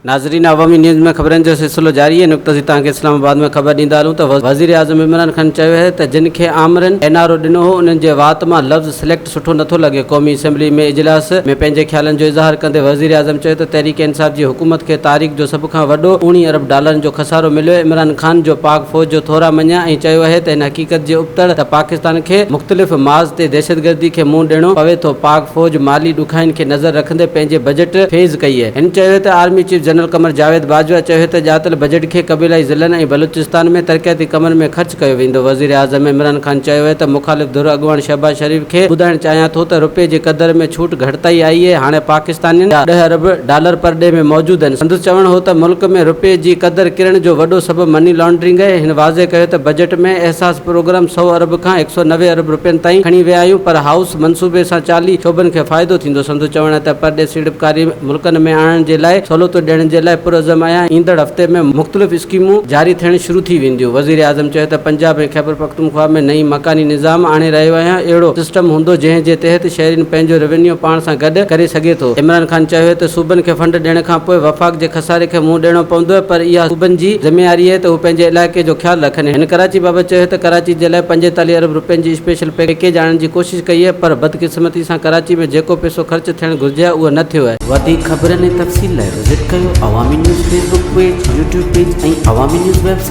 ناظرين عوامي نيوز ۾ خبرن جو سلسلو جاري آهي نقطه سي توهان کي اسلام آباد ۾ خبر ڏيندا هلون ته وزيراعظم عمران خان چيو آهي ته جن کي آمرين اين آر او ڏنو هو انهن جي وات مان لفظ سليڪٽ سٺو نٿو لڳي، قومي اسيمبلي ۾ اجلاس ۾ پنهنجي خيالن جو اظهار ڪندي وزيراعظم چيو ته تحريڪ انصاف جي حڪومت کي تاريخ جو سڀ کان وڏو اوڻي ارب ڊالرن جو خسارو مليو، عمران خان جو پاڪ فوج جو ٿورا مڃيا ۽ چيو اهي ته ان حقيقت جي ابتڙ ته پاڪستان کي مختلف ماز تي دهشتگردي کي منهن ڏيڻو پوي ٿو، پاڪ فوج مالي ڏکائين کي نظر رکندي پنهنجي بجيٽ فيز ڪئي اهي. هن چيو ته army chief general Qamar Javed Bajwa چيو ته ڄاتل بجيٽ کي قبيلائي ضلعن ۽ بلوچستان ۾ ترقياتي ڪمن ۾ خرچ ڪيو ويندو، وزيراعظم عمران. کان چيو هي ته مخالف ڌر اڳواڻ شهباز شريف کي ٻڌائڻ چاهيان ٿو ته رپئي جي قدر ۾ ڇوٽ گهٽتائي آئي اهي هاڻي پاڪستانين جا ڏهه ارب ڊالر پر ڏي ۾ موجود آهن سندس چوڻ هو ته ملڪ ۾ رپئي جي قدر ڪرڻ جو وڏو سبب مني لانڊرنگ اهي هن واضح ڪيو ته بجيٽ ۾ احساس پروگرام سؤ ارب کان هڪ سؤ نوي ارب رپين تائين کڻي ويا آهيون پر هائوس منصوبي سان چاليهه شعبن کي فائدو ٿيندو سندو چوڻ آهي ته پر ڏي سيڙپڪاري ملڪن ۾ آڻڻ جي لاء سھولتون ڏيڻ جي لاء پرعزم آھيان، ايندڙ ھفتي ۾ مختلف اسڪيمون جاري ٿيڻ شروع ٿي وينديون، وزيراعظم چيو ته پنجاب ۽ خيبرپختونخوا ۾ نئين مڪاني نظام آڻي رھيو آھيان، اھڙو سسٽم ھوندو جنھن جي تحت شھرين پنھنجو روينيو پاڻ سان گڏ ڪري سگھي ٿو، عمران خان چيوهي ته صوبن کي فنڊ ڏيڻ کان پوء وفاق جي خساري کي منهن ڏيڻو پوندو پر اها صوبن جي ذميواري اهي ته هو پنهنجي علائقي جو خيال رکن، هن ڪراچي بابت چيوهي ته ڪراچي جي لاء پنجيتاليهه ارب روپين جي اسپيشل پيڪيج آڻڻ جي ڪوشش ڪئي آهي پر بدقسمتي سان ڪراچي ۾ جيڪو پئسو خرچ ٿيڻ گهرجي ها اهو نه ٿيو آهي. وڌيڪ خبرن ۽ تفصيل لاء وزٽ ڪيو Awami news Facebook page, YouTube page ۽ Awami news web site.